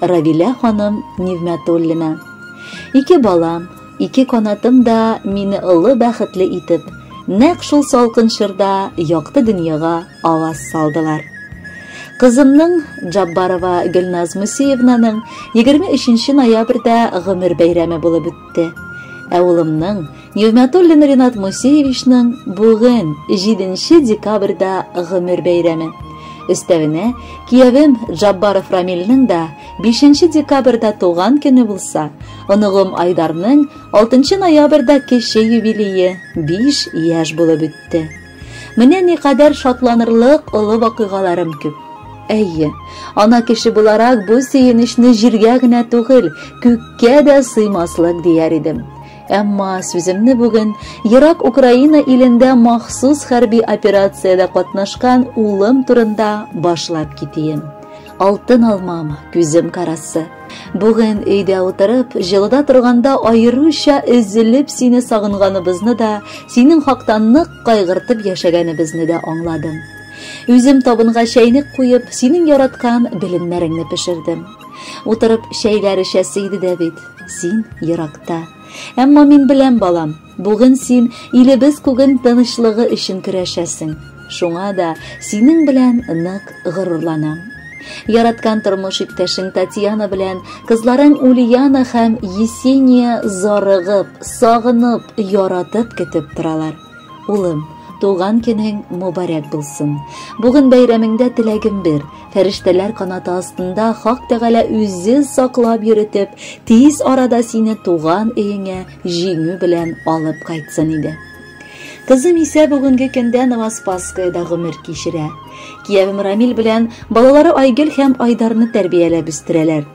Равилә ханым Нигъмәтуллина. Ике балам, ике канатым да мине олы бәхетле итеп, нәкъ шул салкын чорда якты дөньяга аваз салдылар. Кызымның Джаббарова Гөлназ Мусеевнаның 23 ноябрьдә гомер бәйрәме булып үтте. Ә улымның Нигъмәтуллин Ринат Мусеевичның бүген 7 декабрьдә гомер бәйрәме. Өстәвенә, киявем Джаббаров Рамилнең дә 5 декабрьдә туган көне булса, оныгым Айдарның 6 ноябрьдә кече юбилее 5 яшь булып үтте. Менә никадәр шатланырлык олы вакыйгаларым күп. Әйе, ана кеше буларак бу сөенечне җиргә генә түгел, күккә дә сыймаслык дияр идем. Әмма сүземне бүген ерак Украина илендә махсус хәрби операциядә катнашкан улым турында башлап китием. Алтын алмам, күзем карасы. Бүген өйдә утырып, җылыда торганда аеруча өзелеп сине сагынганыбызны да, синең хакта нык кайгыртып яшәгәнебезне дә аңладым. Үзем табынга чәйнек куеп, синең яраткан белемнәреңне пешердем. Утырып чәйләр эчәсе иде дә бит. Син еракта. Әмма мин беләм, балам, бүген син илебез күген тынычлыгы өчен көрәшәсең. Шуңа да синең белән нык горурланам. Яраткан тормыш иптәшең Татьяна белән кызларың Ульяна һәм Есения зарыгып, сагынып, яратып көтеп торалар. Улым, туган көнең мубарәк булсын. Бүген бәйрәмеңдә теләгем бер, фәрештәләр канаты астында Хак Тәгалә үзе саклап йөритеп, тиз арада сине туган өеңә җиңү белән алып кайтсын иде. Кызым исә бүгенге көндә Новоспасскоеда гомер кичерә. Киявем Рамил белән балалары Айгөл һәм Айдарны тәрбияләп үстерәләр.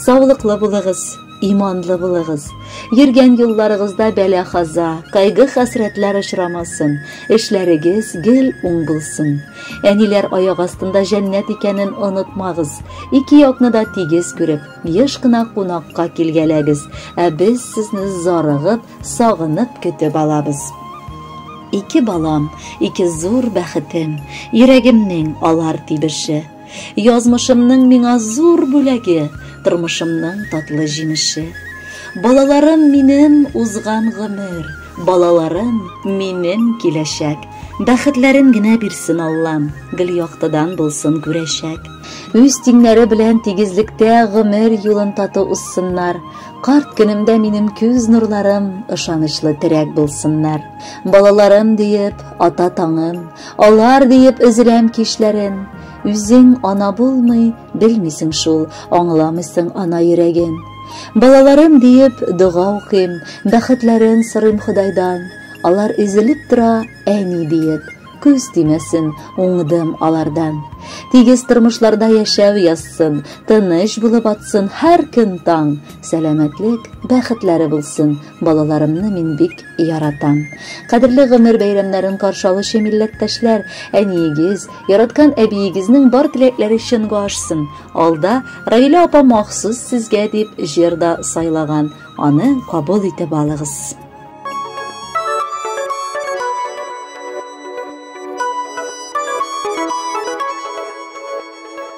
Саулыклы булыгыз, иманлы булыгыз. Йөргән юлларыгызда бәла-хаза, кайгы-хәсрәтләр очрамасын, эшләрегез гел уң булсын. Әниләр аяк астында җәннәт икәнен онытмагыз. Ике якны да тигез күреп, еш кына кунакка килгәләгез, ә без сезне зарыгып, сагынып көтеп алабыз. Ике балам, ике зур бәхетем, йөрәгемнең алар тибеше. Язмышымның миңа зур бүләге, Тормышымның татлы җимеше. Балаларым минем узган гомер, Балаларым минем киләчәк. Бәхетләрен генә бирсен Аллам, Гел яктыдан булсын күрәчәк. Үз тиңнәре белән тигезлектә Гомер юлын тату узсыннар. Карт көнемдә минем күз нурларым Ышанычлы терәк булсыннар. Балаларым диеп, ата таңым, Алар диеп өзеләм кичләрен. Үзең ана булмый, белмисең шул, аңламыйсың ана йөрәген. Балаларым диеп дога укыйм, бәхетләрен сорыйм Ходайдан. Алар изелеп тора, әни диеп, күз тимәсен, уңдым алардан. Тигез тормышларда яшәү язсын, тыныч булып атсын һәр көн таң, сәламәтлек, бәхетләре булсын. Балаларымны мин бик яратам. Кадерле гомер бәйрәмнәрен каршы алучы милләттәшләр, әниегез, яраткан әбиегезнең бар теләкләре чынга ашсын. Алда Равилә апа махсус сезгә дип җыр да сайлаган. Аны кабул итеп алыгыз.